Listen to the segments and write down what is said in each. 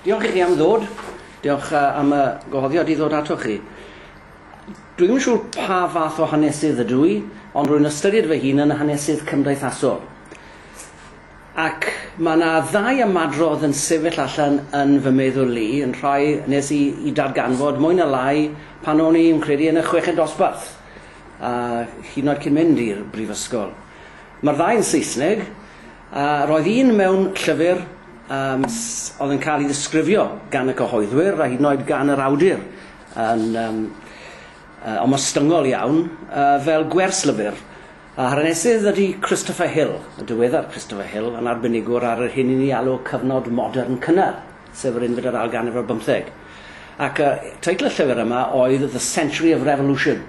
Diolch i chi am ddod. Diolch am y gwahoddiad i ddod atoch chi. Dwi ddim yn siŵr pa fath o hanesydd ydw i, ond rwy'n ystyried fy hun yn hanesydd cymdeithasol. Ac mae yna ddau ymadrodd yn sefyll allan yn fy meddwl i, yn rhai nes i, i darganfod mwy na lai pan o'n i'n credu yn y chweched dosbarth, a hyd yn oed cyn mynd i'r brifysgol. Mae'r ddau yn Saesneg, A roedd un mewn llyfr um, oedd yn cael ei ddisgrifio gan y cyhoeddwyr a hyd yn oed gan yr awdur yn um, uh, omostyngol iawn uh, fel gwerslyfr. A hanesydd ydy Christopher Hill, y diweddar Christopher Hill, yn arbenigwr ar yr hyn i ni alw cyfnod modern cynnar, sef yr unfed ar ail ganrif ar bymtheg. Ac uh, teitl y llyfr yma oedd The Century of Revolution,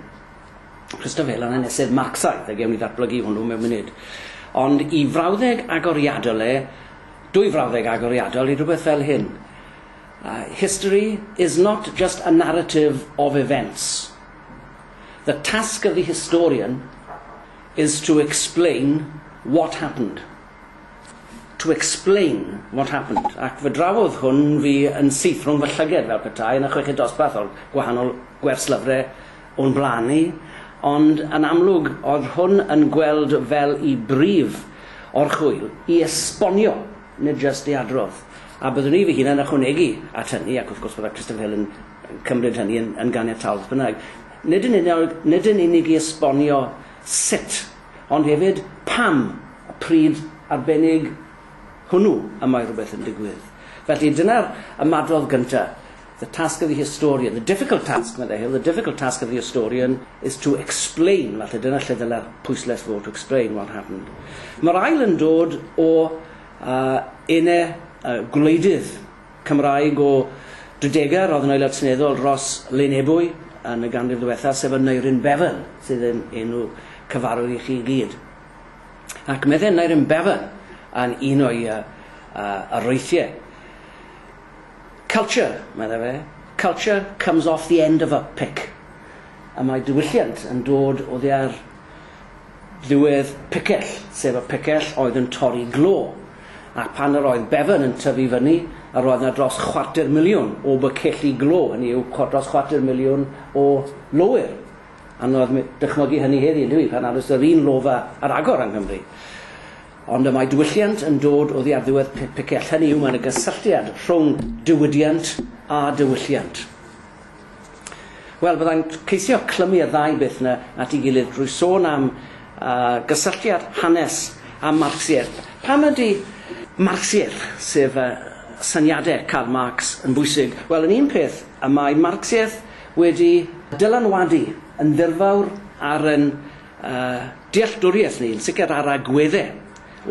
Christopher Allen sef Marxaidd, a gewn ni ddatblygu hwnnw mewn munud. Ond i frawddeg agoriadol e, dwy frawddeg agoriadol i rhywbeth fel hyn. Uh, history is not just a narrative of events. The task of the historian is to explain what happened. To explain what happened. Ac fy drafodd hwn fi yn seithrwng fy llyged fel petai yn y chweched dosbarth o'r gwahanol gwerslyfrau o'n blaen ni, ond yn amlwg oedd hwn yn gweld fel y brif orchwyl i esbonio, nid jyst i adrodd. A byddwn i fy hun yn ychwanegu at hynny, ac wrth gwrs byddai Christopher Hill yn cymryd hynny yn, yn ganiataol beth bynnag, nid yn, unig, nid yn unig i esbonio sut, ond hefyd pam y pryd arbennig hwnnw y mae rhywbeth yn digwydd. Felly dyna'r ymadrodd gyntaf. The task of the historian, the difficult task, meddai Hill, the difficult task of the historian is to explain, falle dyna lle ddyla'r pwyslais fod, to explain what happened. Mae'r ail yn dod o uh, une uh, gwleidydd Cymraeg o Drydegar, roedd yn aelod seneddol Ros Lenebwy yn y ganrif ddiwethaf, sef y Neirin Bevan, sydd yn enw cyfarwydd i chi i gyd. Ac meddai Neirin Bevan yn un o'i uh, uh, aroethiau, Culture, meddai fe, culture comes off the end of a pick. A mae diwylliant yn dod oddi ar ddiwedd picell, sef y picell oedd yn torri glo. A phan yr oedd Bevan yn tyfu fyny, yr oedd yna dros chwarter miliwn o bycelli glo, hynny yw, dros chwarter miliwn o lowyr. Anodd dychmygu hynny heddi, yndyw i, pan nad oes yr un lofa ar agor yng Nghymru. Ond y mae diwylliant yn dod oddi ar ddiwedd pe- pecell, hynny yw, mae yna gysylltiad rhwng diwydiant a diwylliant. Wel, byddai'n ceisio clymu y ddau beth yna at ei gilydd drwy sôn am uh, gysylltiad hanes a Marxiaeth. Pam ydy Marxiaeth, sef uh, syniadau Karl Marx, yn bwysig? Wel, yn un peth, y mae Marxiaeth wedi dylanwadu yn ddirfawr ar yn A'n dealltwriaeth ni, yn sicr a'r agwedde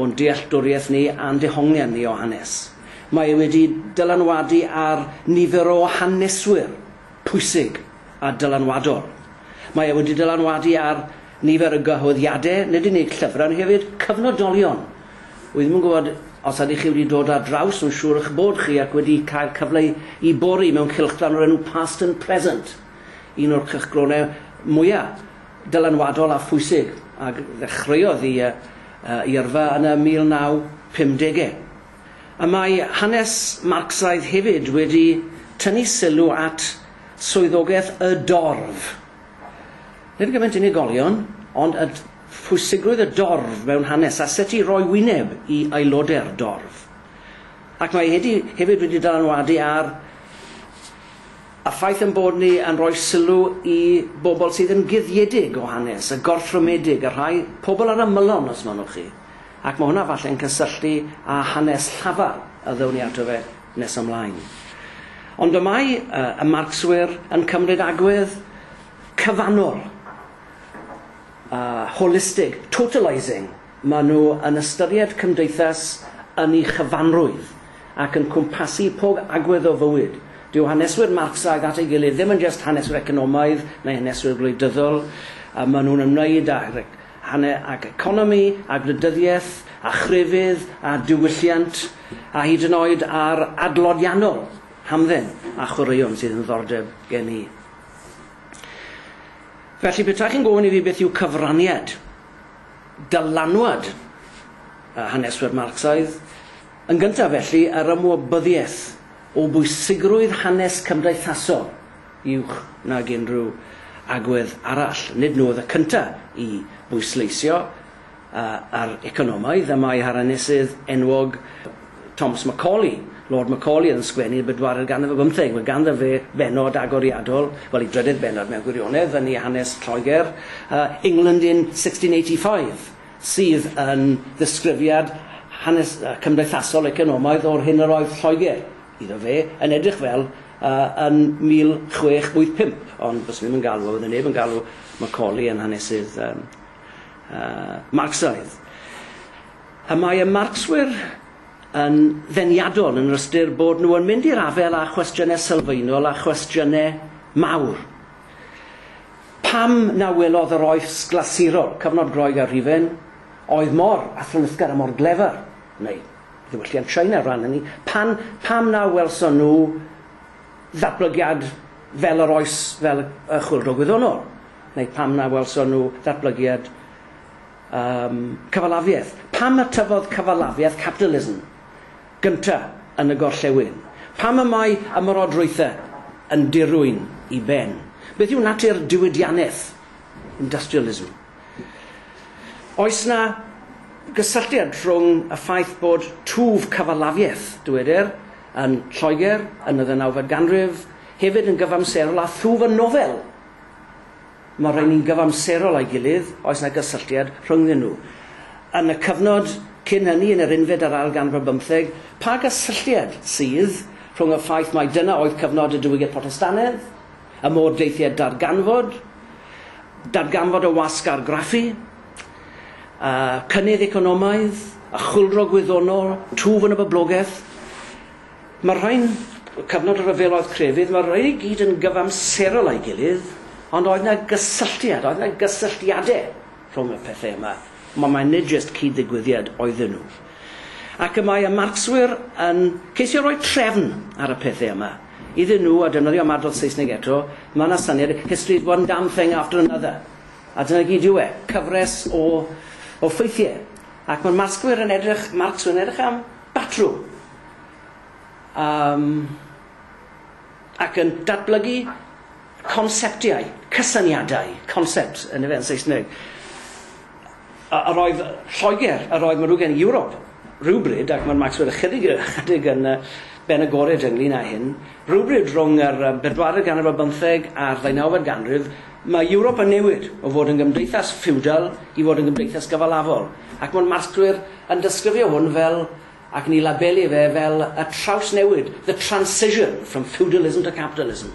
o'n dealltwriaeth ni a'n dehongliad ni o hanes. Mae e wedi dylanwadu ar nifer o haneswyr pwysig a dylanwadol. Mae e wedi dylanwadu ar nifer o gyhoeddiade, nid yn unig llyfrau ond hefyd cyfnodolion. Wi ddim yn gwybod os ydych chi wedi dod ar draws, mae'n siŵr eich bod chi ac wedi cael cyfle i bori mewn cylchgrawn o'r enw Past and Present, un o'r cylchgronau mwyaf dylanwadol a phwysig a ddechreuodd i i yrfa yn y 1950au. Y mae hanes Marcsaidd hefyd wedi tynnu sylw at swyddogaeth y dorf, nid gymaint unigolion, ond y phwysigrwydd y dorf mewn hanes a sut i roi wyneb i aelodau'r dorf. Ac mae hedi hefyd wedi dylanwadu ar A'r ffaith ein bod ni yn rhoi sylw i bobl sydd yn guddiedig o hanes, y gorthrymedig, y rhai, pobl ar ymylon os mynnwch chi. Ac mae hwnna falle'n cysylltu â hanes llafar y ddown ni ato fe nes ymlaen. Ond y mae y Marcswyr yn cymryd agwedd cyfannol, holistig, totalising, Maen nhw yn ystyried cymdeithas yn ei chyfanrwydd ac yn cwmpasu pob agwedd o fywyd. Dyw haneswyr Marcsaidd at ei gilydd ddim yn jest haneswyr economaidd neu haneswyr gwleidyddol, maen nhw'n ymwneud â hanner ac economi a gwleidyddiaeth a chrefydd a diwylliant a hyd yn oed â'r adloniannol hamdden a chwaraeon sydd yn ddiddordeb gen i. Felly, petai chi'n gofyn i fi beth yw cyfraniad, dylanwad y haneswyr Marcsaidd, yn gyntaf felly, yr ymwybyddiaeth o bwysigrwydd hanes cymdeithasol i uwch nag unrhyw agwedd arall. Nid nhw oedd y cyntaf i bwysleisio yr economaidd y mae harenesydd enwog, Thomas Macaulay, Lord Macaulay oedd yn sgwennu y bedwaredd ganrif ar bymtheg. Mae ganddo fe bennod agoriadol, wel ei drydedd bennod mewn gwirionedd, yn ei hanes Lloegr, uh, England in 1685, sydd yn ddisgrifiad hanes uh, cymdeithasol economaidd o'r hyn yr oedd Lloegr, iddo fe, yn edrych fel uh, yn 1685. Ond bys ddim yn galw, oedd neb yn galw Macaulay yn hanesydd um, uh, Marxaidd. Y mae y marcswyr yn ddeniadol yn yr ystyr bod nhw yn mynd i'r afael â chwestiynau sylfaenol a chwestiynau mawr. Pam na welodd yr oes glasurol, cyfnod Groeg a Rhufen, oedd mor athronyddgar a mor glefar, neu ddiwylliant China ran hynny, pan, pam na welson nhw ddatblygiad fel yr oes fel y chwyldro gwyddonol, neu pam na welson nhw ddatblygiad Yym, cyfalafiaeth. Pam y tyfodd cyfalafiaeth capitalism gynta yn y gorllewin? Pam y mae ymerodrwythe yn dirwyn i ben? Beth yw natur diwydianeth, industrialism? Oes 'na gysylltiad rhwng y ffaith bod twf cyfalafiaeth, dywedir, yn Lloegr yn y ddeunawfed ganrif hefyd yn gyfamserol â thwf y nofel? Mae'r rhain yn gyfamserol â'i gilydd, oes 'na gysylltiad rhyngddyn nhw? Yn y cyfnod cyn hynny, yn yr unfed a'r ail ganrif bymtheg, pa gysylltiad sydd rhwng y ffaith mai dyna oedd cyfnod y diwygiad Protestannedd, y modd daeth i at ddarganfod, darganfod y wasg argraffu, y cynnydd economaidd, y chwyldro gwyddonol, twf yn y boblogaeth, Mae'r rhain, cyfnod y rhyfel oedd crefydd, mae'r rhain i gyd yn gyfamserol â'i gilydd, ond oedd 'na gysylltiad, oedd 'na gysylltiadau rhwng y pethau yma, ond mae nid jyst cyd-ddigwyddiad oedden nhw. Ac y mae y Marcswyr yn ceisio rhoi trefn ar y pethau yma. Iddyn nhw, a defnyddio ymadrodd Saesneg eto, mae 'na syniad, history's one damn thing after another. A dyna gyd yw e, cyfres o, o ffeithiau. Ac mae'r Marcswyr yn edrych, Marcswyr yn edrych am Batrwm am ac yn datblygu conseptiau, cysyniadau, concepts yn efe yn Saesneg. A yr oedd Lloegr, yr oedd Marugen i Ewrop rywbryd, ac mae'r Maxwell ychydig ychydig yn yy ben agored ynglyn â hyn, rywbryd rhwng yr yym bedwaredd ganrif ar bymtheg a'r ddeunawfed ganrif, mae Ewrop yn newid o fod yn gymdeithas ffiwdal i fod yn gymdeithas gyfalafol, ac mae'r Maxwell yn disgrifio hwn fel, ac yn ei labelu fe fel, y trawsnewid, the transition from feudalism to capitalism.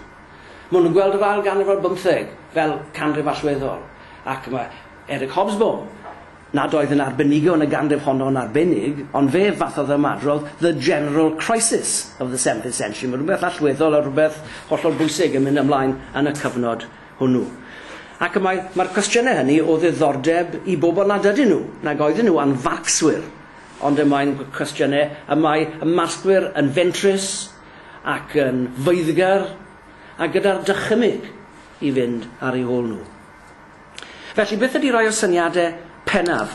Maen nhw'n gweld yr ail ganrif ar bymtheg fel canrif allweddol, ac mae Eric Hobsbawm, nad oedd yn arbenigo yn y ganrif honno yn arbennig, ond fe fathodd ymadrodd the general crisis of the seventeenth century, mae rhywbeth allweddol a rhywbeth hollol bwysig yn mynd ymlaen yn y cyfnod hwnnw. Ac y mae, mae'r cwestiynau hynny o ddiddordeb i bobl nad ydyn nhw, nag oedden nhw anfarcwswyr, ond y mae'n cwestiynau y mae y marcwyr yn fentrus ac yn feiddgar a gyda'r dychymyg i fynd ar ei hôl nhw. Felly, beth ydy rhai o'r syniadau Pennaf.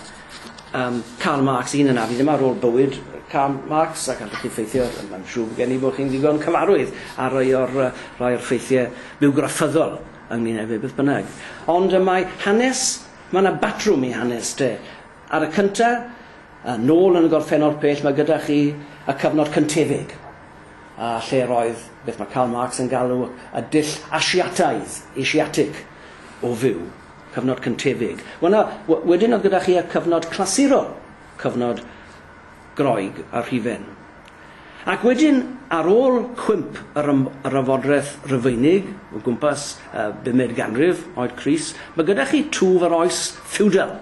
Yym, Karl Marx, un yn addi dyma rôl bywyd Karl Marx ac allwch chi ffeithio, mae'n siŵr bod gen i bod chi'n ddigon cyfarwydd a rhai o'r, rhai o'r ffeithiau bywgraffyddol ynglyn â fe beth bynnag. Ond y mae hanes, mae yna batrwm i hanes de. Ar y cynta, a nôl yn y gorffennol pell, mae gyda chi y cyfnod cyntefig, a lle roedd beth mae Karl Marx yn galw y dull Asiataidd, Asiatic, o fyw. Cyfnod cyntefig. Wel na, wedyn oedd gyda chi y cyfnod clasurol, cyfnod Groeg a Rhufen. Ac wedyn, ar ôl cwymp yr, yr ymfodreth Rufeinig, o gwmpas uh, bumed ganrif, oed Cris, mae gyda chi twf yr oes ffeudal,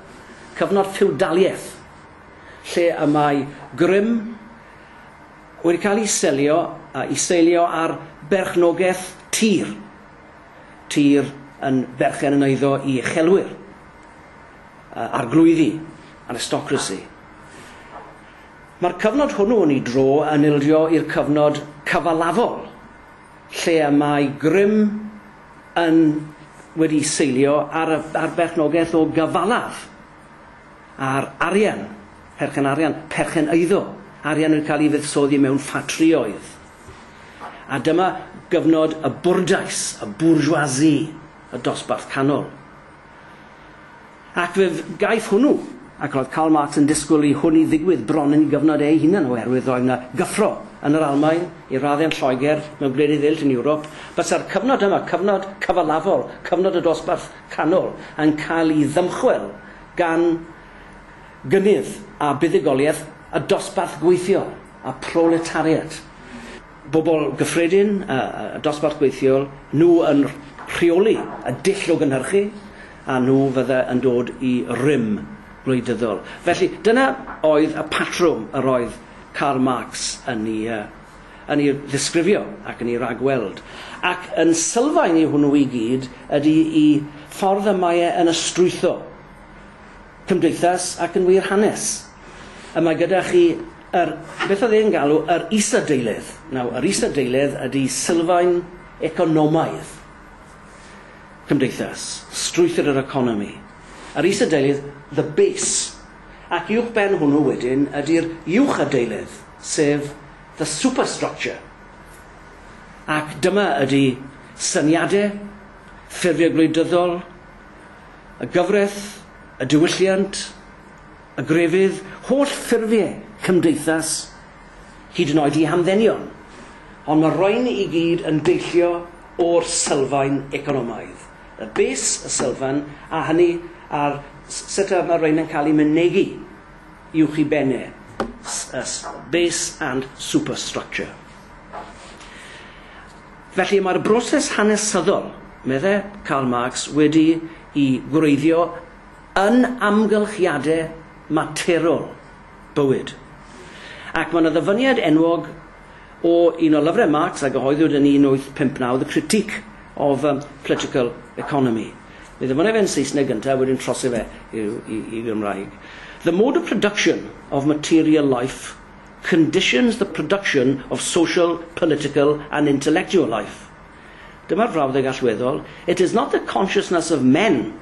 cyfnod ffeudaliaeth, lle y mae grym wedi cael ei selio, uh, ei seilio ar berchnogaeth tir. tir yn berchen yn eiddo i uchelwyr, uh, arglwyddi, aristocracy. Mae'r cyfnod hwnnw yn ei dro yn ildio i'r cyfnod cyfalafol, lle y mae grym yn wedi seilio ar, ar berchnogaeth o gyfalaf, ar arian, perchen arian, perchen eiddo, arian yn cael ei fuddsoddi mewn ffatrïoedd. A dyma gyfnod y bwrdais, y bourgeoisie, y dosbarth canol. Ac fe gaiff hwnnw, ac roedd Karl Marx yn disgwyl i hwnnw ddigwydd bron yn ei gyfnod ei hunan oherwydd roedd yna gyffro yn yr Almaen, i raddau yn Lloegr, mewn gwledydd eraill yn Ewrop, bysa'r cyfnod yma, cyfnod cyfalafol, cyfnod y dosbarth canol, yn cael ei ddymchwel gan gynnydd a buddugoliaeth y dosbarth gweithiol. a proletariat, bobl gyffredin a dosbarth gweithiol, nhw yn rheoli y dull o gynhyrchu a nhw fydde yn dod i rym gwleidyddol. Felly, dyna oedd y patrwm yr oedd Karl Marx yn ei, yn ei ddisgrifio ac yn ei ragweld. Ac yn sylfaen i hwnnw i gyd ydy i ffordd y mae e yn ystwytho Cymdeithas ac yn wir hanes. A mae gyda chi yr, beth oedd e'n galw, yr isadeilydd. Nawr, yr isadeilydd ydy sylfaen economaidd cymdeithas, strwythur yr economi. Yr isadeilydd, the base. Ac uwch ben hwnnw wedyn ydy'r uwchadeilydd, sef the superstructure. Ac dyma ydy syniadau ffurfiau gwleidyddol, y gyfraith, y diwylliant, y grefydd, holl ffurfiau cymdeithas, hyd yn oed i hamddenion, ond mae'r rhain i gyd yn deillio o'r sylfaen economaidd, y bys, y sylfan, a hynny a'r s- sut y mae'r rhain yn cael eu mynegi uwch i ben e, s- y s- base and superstructure. Felly mae'r broses hanesyddol, medde Karl Marx, wedi i wreiddio yn amgylchiade materol bywyd. Ac mae yna ddyfyniad enwog o un o lyfre Marx a gyhoeddwyd yn 1859, The Critique of Political Economy. Mi ddyfynnai fe'n Saesneg gynta a wedyn trose fe i, i, i Gymraeg. The mode of production of material life conditions the production of social, political and intellectual life'. Dyma'r frawddeg allweddol, It is not the consciousness of men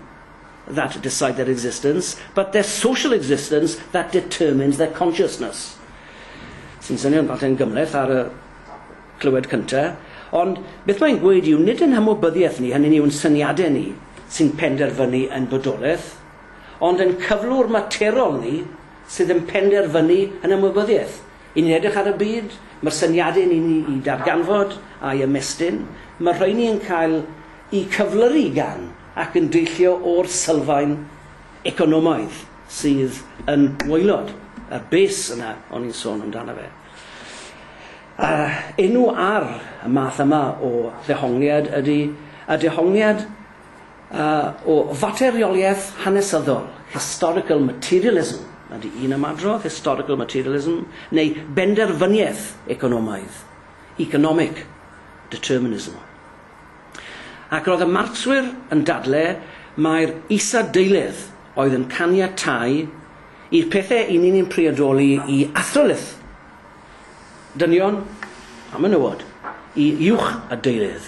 that decide their existence, but their social existence that determines their consciousness. Sy'n swnio'n falle yn gymleth ar y clywed cyntaf, ond beth mae'n gweud yw nid yn hymwybyddiaeth ni, hynny ni yw'n syniadau ni, sy'n penderfynu yn bodolaeth, ond yn cyflwr materol ni, sydd yn penderfynu yn ymwybyddiaeth. I ni'n edrych ar y byd, mae'r syniadau i ni'i darganfod a'i ymestyn, mae'r rheiny yn cael eu cyflyru gan ac yn deillio o'r sylfaen economaidd sydd yn waelod y base yna o'n i'n sôn amdano fe. A enw ar y math yma o ddehongliad ydy y dehongliad A o faterioliaeth hanesyddol, historical materialism, ydy un ymadrodd, historical materialism, neu benderfyniaeth economaidd, economic determinism. Ac roedd y Marcswyr yn dadle mai'r isadeiledd oedd yn caniatáu i'r pethau i ni'n ein priodoli i athrylith. dynion a menywod i uwch a deurydd.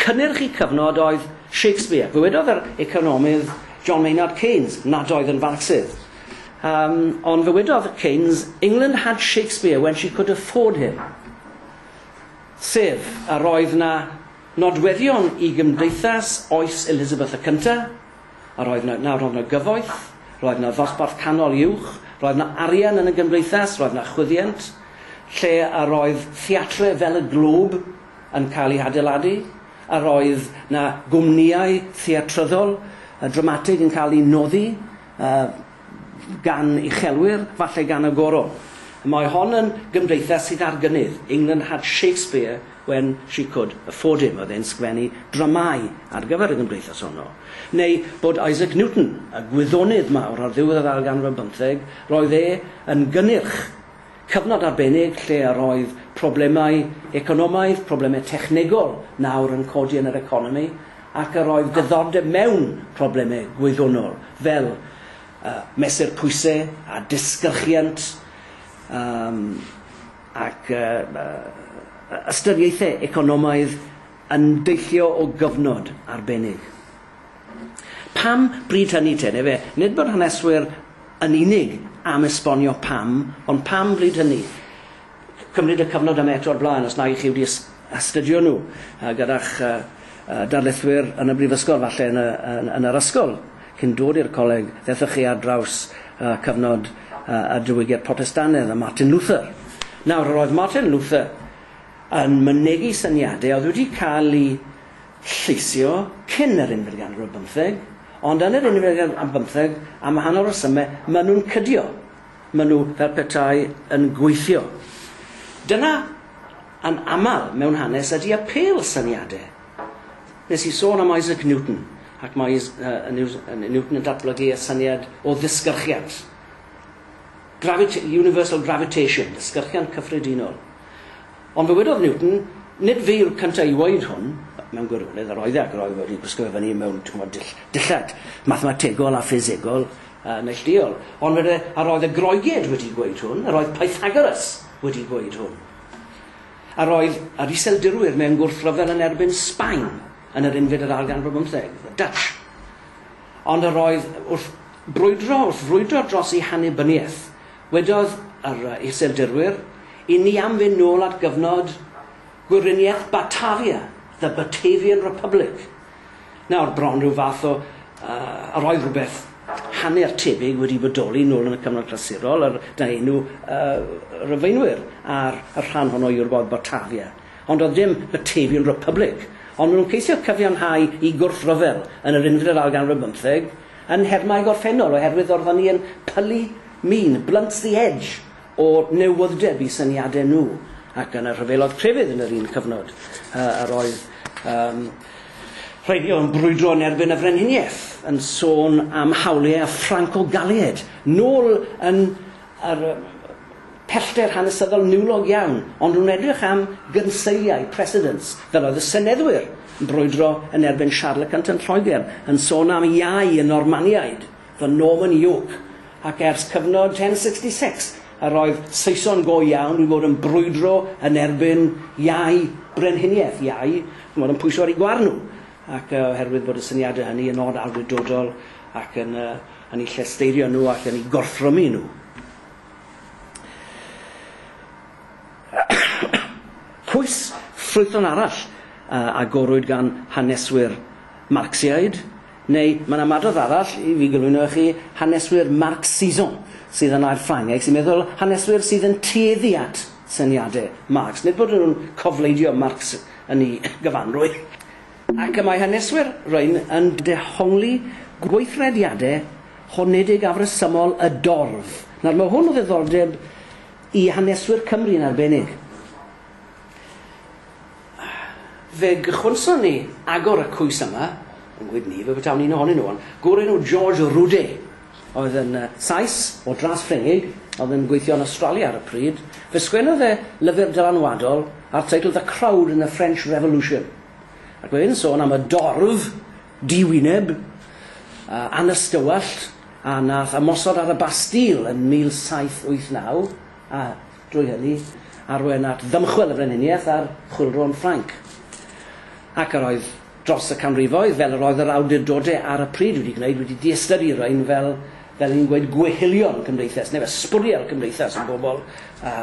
Cynnyrch y cyfnod oedd Shakespeare. Dywedodd yr economydd John Maynard Keynes nad oedd yn Farcsydd. Um, ond ddywedodd Keynes, England had Shakespeare when she could afford him. Sef, a roedd na nodweddion i gymdeithas oes Elizabeth y Cynta, A roedd 'na, na, roedd 'na gyfoeth, roedd 'na ddosbarth canol uwch, roedd 'na arian yn y gymdeithas, roedd 'na chwyddiant, lle a roedd theatre fel y Globe yn cael ei hadeiladu, a roedd 'na gwmnïau theatryddol a dramatig yn cael eu noddi, a, gan uchelwyr, falle gan y Goron. Mae hon yn gymdeithas sydd ar gynnydd, England had Shakespeare when she could afford him, oedd e'n sgwennu dramâu ar gyfer y gymdeithas honno. Neu bod Isaac Newton, y gwyddonydd mawr ar ddiwedd yr ail ganrif ar bymtheg, roedd e yn gynnyrch Cyfnod arbennig lle yr oedd problemau economaidd, problemau technegol nawr yn codi yn yr economi, ac yr oedd diddordeb mewn problemau gwyddonol, fel mesur pwysau a disgyrchiant ac ystyriaethau economaidd yn deillio o gyfnod arbennig. Pam bryd hynny te? Neu efe, nid bod haneswyr yn unig am esbonio pam, ond pam bryd hynny? Cymryd y cyfnod yma eto o'r blaen os nag 'ych chi wedi astudio nhw gyda'ch darlithwyr yn y brifysgol, falle yn y, yn, yn yr ysgol, cyn dod i'r coleg, ddethoch chi ar draws cyfnod y diwygiad Protestannedd a Martin Luther. Nawr, yr oedd Martin Luther yn mynegi syniadau oedd wedi cael eu lleisio cyn yr unfed ganrif ar bymtheg, ond yn yr unfed ganrif ar bymtheg, am wahanol resymau, maen nhw'n cydio. Maen nhw fel petai yn gweithio. Dyna, yn aml, mewn hanes, ydy apêl syniadau. Wnes i sôn am Isaac Newton, ac mae Newton yn datblygu y syniad o ddisgyrchiant. Gravita- universal gravitation, ddisgyrchiant cyffredinol. Ond dywedodd Newton, Nid fi yw'r cyntaf i ŵoeud hwn, mewn gwirionedd, yr oedd e, ac yr oedd wedi gwisgo fe fyny mewn, ch'mod, dull, dillad mathemategol a ffisegol a neillduol. Ond wede, yr oedd y Groeged wedi gweud hwn, yr oedd Pythagoras wedi gweud hwn. Yr oedd yr Iseldirwyr mewn gwrthryfel yn erbyn Sbaen yn yr unfed yr ail ganrif bymtheg, the Dutch. Ond yr oedd wrth brwydro, wrth frwydro dros eu hannibyniaeth, Wedodd yr Iseldirwyr i ni am fynd nôl at gyfnod gwyriniaeth Batavia, the Batavian Republic. Nawr, bron rhyw fath o, uh, yr oedd rhywbeth hanner tebyg wedi bodoli nôl yn y cyfnod clasurol, yr, da enw uh, Rhyfeinwyr ar y rhan honno i Ewrop Batavia. Ond oedd dim Batavian Republic, ond maen nhw'n ceisio cyfiawnhau i gwrthryfel yn yr unfed ar ganrif bymtheg, Yn nhermau gorffennol, oherwydd yr oeddwn i yn pylu min, blunt the edge, o newydd'deb i syniadau nhw, ac yn y rhyfeloedd crefydd yn yr un cyfnod, yr oedd um, rhai ni oedd yn brwydro yn erbyn y Frenhiniaeth, yn sôn am hawliau Ffranco-Galied, nôl yn a'r pellter hanesyddol niwlog iawn, ond rwy'n edrych am gynseiliau, precedents, fel oedd y seneddwyr yn brwydro yn erbyn Siarl y Cynt yn Lloegr, yn sôn am iau y Normaniaid, the Norman yoke, ac ers cyfnod 1066, yr oedd Saeson go iawn wedi bod yn brwydro yn erbyn iau brenhiniaeth, iau, chimod, yn pwyso ar eu gwar nhw. ac oherwydd bod y syniadau hynny yn od awdurdodol ac yn yy yn eu llesteirio nhw ac yn eu gorthrymu nhw. Pwys ffrwythlon arall a agorwyd gan haneswyr Marcsiaid, neu mae'n ymadrodd arall i fi gyflwyno i chi haneswyr Marxisant, sydd yn air Ffrangeg, sy'n meddwl haneswyr sydd yn tueddu at syniadau Marx, nid bod nhw'n cofleidio Marx, yn ei gyfanrwydd, ac y mae haneswyr Rhun yn dehongli gweithrediadau honedig afresymol y dorf. Nawr, mae hwn o ddiddordeb i haneswyr Cymru yn arbennig. Fe gychwynson ni agor y cwys yma, yn gwyd ni, fe betawn un ohonyn nhw, ond gŵr enw George Roudé, oedd yn Sais o dras Ffrengig a oedd yn gweithio yn Awstralia ar y pryd, fe sgwennodd e lyfr dylanwadol â'r teitl The Crowd in the French Revolution, ac mae fe'n sôn am y dorf di-wyneb a anystywallt a wnaeth ymosod ar y Bastille yn 1789, a drwy hynny arwain at ddymchwel y Frenhiniaeth a'r Chwyldro yn Ffrainc. Ac yr oedd dros y canrifoedd, fel yr oedd yr awdurdodau ar y pryd wedi gwneud, wedi diystyru rhain fel, fel ni'n gweud, gweillion cymdeithas, neu fel sbwriel cymdeithas yn bobl, a,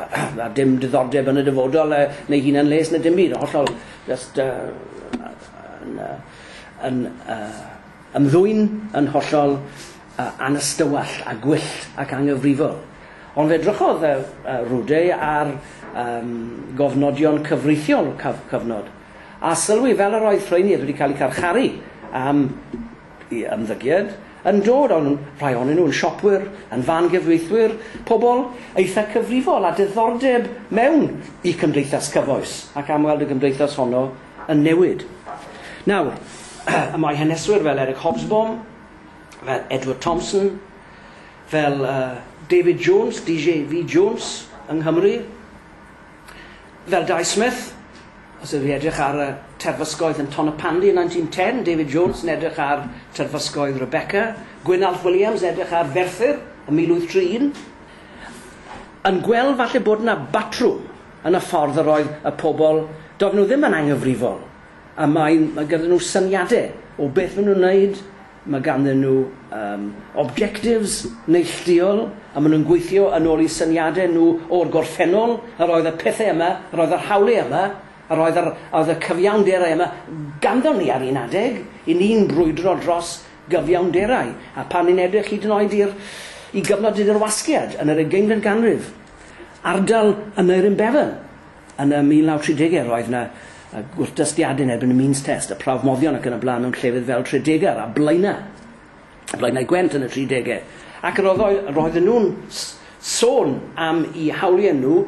a dim diddordeb yn y dyfodol, uh, neu hunan les, neu dim byd, hollol, just, uh, yn, uh, yn uh, ymddwyn yn hollol uh, anystywall a gwyllt ac angyfrifol. Ond fe drychodd uh, uh, Rude ar um, gofnodion cyfreithiol cyf cyfnod, a sylwi fel yr oedd Llwynir wedi cael eu carcharu am eu ymddygiad, yn dod, o'n rhai ohonyn nhw yn siopwyr, yn fan gyfreithwyr, pobl eitha' cyfrifol a diddordeb mewn i cymdeithas cyfoes, ac am weld y gymdeithas honno yn newid. Nawr, y mae haneswyr fel Eric Hobsbawm, fel Edward Thompson, fel uh, David Jones, DJV Jones, yng Nghymru, Fel Dai Smith, os ydych chi'n edrych ar y terfysgoedd yn Tonypandy yn 1910, David Jones yn edrych ar terfysgoedd Rebecca, Gwynalf Williams yn edrych ar Ferthyr yn 1031, yn gweld falle bod yna batrwm yn y ffordd yr oedd y pobl, doedden nhw ddim yn anghyfrifol, a mae, mae gyda nhw syniadau o beth maen nhw'n wneud, Mae ganddyn nhw yym objectives neillduol a maen nhw'n gweithio yn ôl i syniadau nhw o'r gorffennol, yr oedd y pethau yma, yr oedd yr hawliau yma, yr oedd yr oedd y cyfiawnderau yma ganddon ni ar un adeg, i ni'n brwydro dros gyfiawnderau, a pan ni'n edrych hyd yn oed i'r i gyfnod y Dirwasgiad yn yr ugeinfed ganrif, ardal yn Neirin Bevan, Yn y 1930au roedd 'na gwrthdystiadau yn erbyn y Means Test, y prawf moddion ac yn y blaen mewn llefydd fel Tredegar a Blaenau, Blaenau Gwent yn y 30au, ac roedden nhw'n sôn am eu hawliau nhw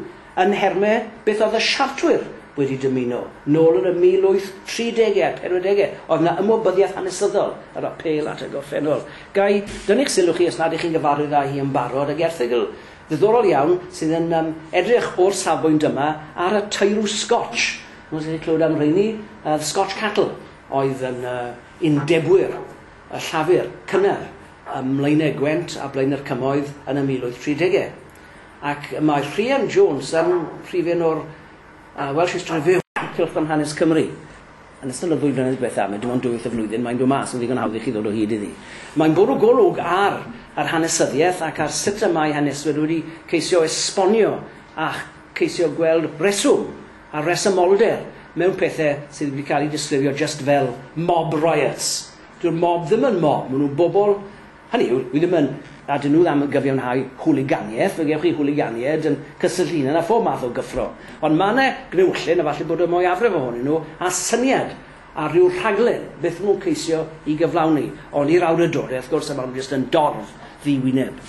yn nhermau beth oedd y Siartwyr wedi dymuno. Nôl yn y 1830au a'r 40au oedd 'na ymwybyddiaeth hanesyddol, yr apêl at y gorffennol. Ga i dynnu'ch sylw chi, os nad 'ych chi'n gyfarwydd â hi yn barod, ag erthygl Ddiddorol iawn, sydd yn yym edrych o'r safbwynt yma ar y teirw Scotch. Chimod os chi 'di clywed am rheini, yr Scotch Cattle oedd yn yy undebwyr y Llafur cynnar ym Mlaenau Gwent a Blaenau'r Cymoedd yn y 1830au. Ac mae Rhian Jones yn rhif un o'r yy Welsh History Review, Cylchgrawn Hanes Cymru, Yn ystod y ddwy flynedd diwetha', mae dim ond dwywaith y flwyddyn mae'n dod mas, yn ddigon hawdd i chi ddod o hyd iddi. Mae'n bwrw golwg ar yr hanesyddiaeth ac ar sut y mae haneswyr wedi ceisio esbonio a cheisio gweld rheswm a rhesymolder mewn pethe sydd wedi cael eu disgrifio jyst fel mob riots. Dyw'r mob ddim yn mob, maen nhw'n bobl Hynny yw, dwi ddim yn âdyn nhw am gyfiawnhau hwliganiaeth, fe gewch chi hwliganiaid yn cysyllt hunan â phob math o gyffro. Ond mae yna gnewyllyn, a falle bod y mwyafrif ohonyn nhw â syniad ar ryw rhaglen beth maen nhw'n ceisio ei gyflawni, ond i'r awdurdodau wrth gwrs a maen nhw jyst yn dorf ddi-wyneb.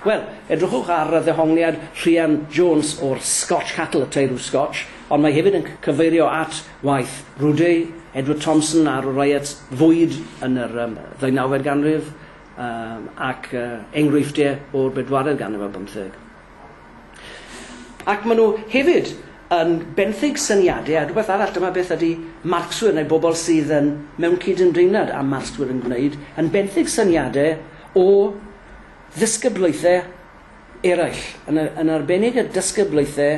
Wel, edrychwch ar ddehongliad Rhian Jones o'r Scotch Cattle, y teirw Scotch, ond mae hefyd yn cyfeirio at Waeth, Rude, Edward Thompson a'r Wraiet fwyd yn yr ddeunawfed ganrif ac enghreifftiau o'r bedwaredd ganrif ar bymtheg. Ac maen nhw hefyd yn benthyg syniadau a rhywbeth arall, dyma beth ydy Marcswyr neu bobl sydd yn mewn cydymdeimlad â Marcswyr yn gwneud, yn benthyg syniadau o ddysgyblaethau eraill, yn arbennig y dysgyblaethau